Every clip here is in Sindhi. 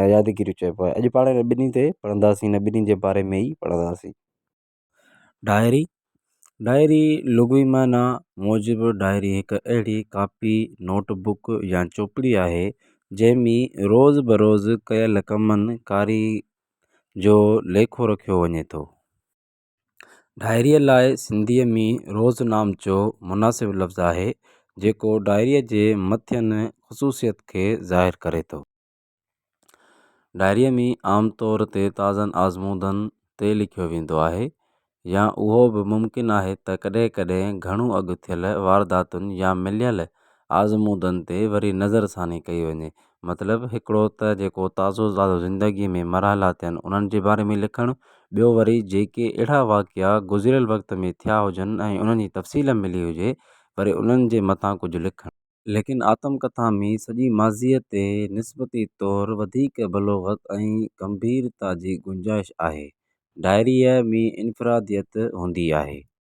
۽ يادگيريون چئبو آهي اڄ پاڻ هن ٻنهي تي پڙهنداسين هن ٻنهي جي باري ۾ ئي پڙهنداسين ڊائري ڊائري لغوي معنيٰ موجب ڊائري هڪ اهڙي ڪاپي نوٽ بڪ يا چوپڙي آهي جنهن ۾ روز بروز ڪيل ڪمن ڪاري جو ليکو رکيو وڃي ٿو ڊائريء لاء سنڌيء ۾ روزنامچو مناسب لفظ آهي، جيڪو ڊائريء جي مٿين خصوصيت کي ظاهر ڪري ٿو. ڊائريء ۾ عام طور تي تازن آزمودن تي لکيو ويندو آهي يا اهو به ممڪن آهي ته ڪڏهن ڪڏهن گهڻو اڳ ٿيل وارداتن يا مليل آزمودن تي وري نظرثاني ڪئي وڃي، مطلب هڪڙو ته جيڪو تازو تازو زندگي ۾ مرحلا ٿيا آهن انهن جي باري ۾ لکڻ ٻيو وري جيڪي اهڙا واقعا گذريل وقت ۾ ٿيا هجن ۽ انهن جي تفصيل ملي هجي وري انهن جي مٿان ڪجهه لکڻ. ليڪن آتم ڪٿا ۾ سڄي ماضيء تي نسبتي طور وڌيڪ بلوغت ۽ گنڀيرتا جي گنجائش آهي. ڊائريء ۾ انفراديت هوندي آهي.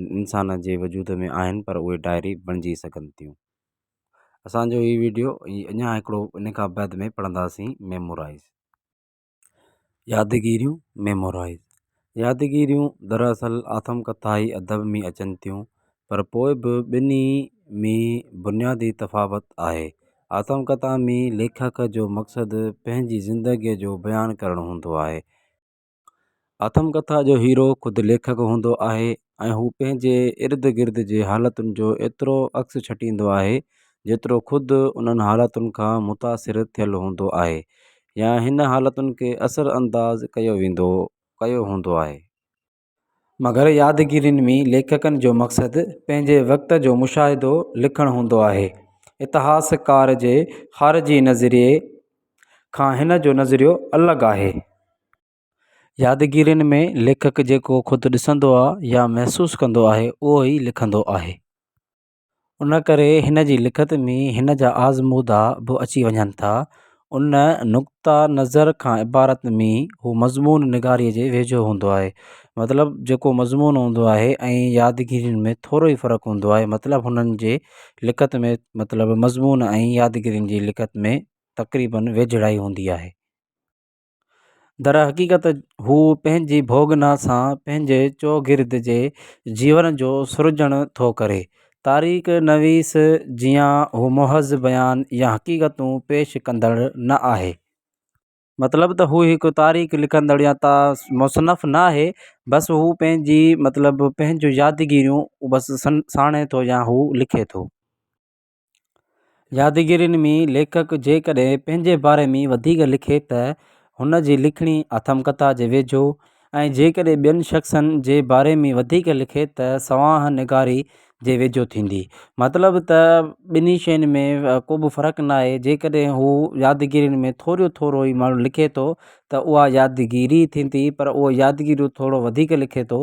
انسان جي وجود ۾ آهن پر اهي ڊائري بڻجي سگهن ٿيون اسانجو هي وڊيو اڃا هڪڙو ان کان بعد ۾ پڙهنداسين ميمورائيز يادگيريون ميمورائيز يادگيريون دراصل آٿم ڪٿائي ادب ۾ اچن ٿيون پر پوء به ٻنهي ۾ بنيادي تفاوت آهي آٿم ڪٿا ۾ ليکڪ جو مقصد پنهنجي زندگيء جو بيان ڪرڻ هوندو آهي آٿمڪٿا جو هيرو خود ليکڪ هوندو آهي ۽ هو پنهنجي ارد گرد جي حالتن جو ايترو عڪس ڇٽيندو آهي جيترو خود انهن حالتن کان متاثر ٿيل هوندو آهي يا هن حالتن کي اثر انداز ڪيو ويندو ڪيو هوندو آهي. مگر يادگيرين ۾ ليکڪن جو مقصد پنهنجي وقت جو مشاهدو لکڻ هوندو آهي. اتهاسڪار جي خارجي نظريي کان هن جو نظريو الڳ آهي. يادگيرين ۾ ليکڪ جيڪو خود ڏسندو آ يا محسوس ڪندو آهي اهو ئي لکندو آهي. ان ڪري هن جي لکت ۾ هن جا آزمودا به اچي وڃن ٿا. ان نقطه نظر کان عبارت ۾ هو مضمون نگاريء جي ويجهو هوندو آهي. مطلب جيڪو مضمون هوندو آهي ۽ يادگيرين ۾ ٿورو ئي فرق هوندو آهي. مطلب هنن جي لکت ۾ مطلب مضمون ۽ يادگيرين جي لکت ۾ تقريباً ويجهڙائي هوندي آهي. درحقيقت هو پنهنجي ڀوڳنا سان پنهنجي چوگرد جي جيون جو سرجڻ ٿو ڪري. تاريخ نويس جيان هو محض بيان يا حقيقتون پيش ڪندڙ نه آهي. مطلب ته هو هڪ تاريخ لکندڙ يا مصنف نه آهي، بس هو پنهنجي مطلب پنهنجون يادگيريون بس ساڻي ٿو يا هو لکي ٿو. يادگيرين ۾ ليکڪ جيڪڏهن پنهنجي باري ۾ وڌيڪ لکي ته هن جي لکڻي آٿمڪٿا جي ويجهو ۽ جيڪڏهن ٻين شخصن جي باري ۾ وڌيڪ لکي ته سوانح نگاري جي ويجهو ٿيندي. مطلب ته ٻنهي شين ۾ ڪو به فرق ناهي جيڪڏهن هو يادگيرين ۾ ٿوريون ٿورو ئي ماڻهو لکي ٿو ته اها يادگيري ٿيندي پر اهو يادگيريون ٿورو وڌيڪ لکي ٿو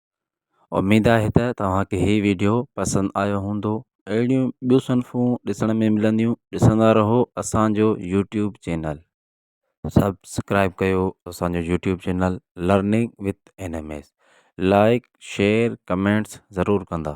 اميد آهي ته توهان کي هي ويڊيو پسند آيو هوندو اهڙيون ٻيون صنفون ڏسڻ ۾ ملنديون ڏسندا رهو اسانجو يوٽيوب چينل. سبسڪرائب ڪيو اسانجو YouTube channel learning with N M S like share comments ضرور ڪندا.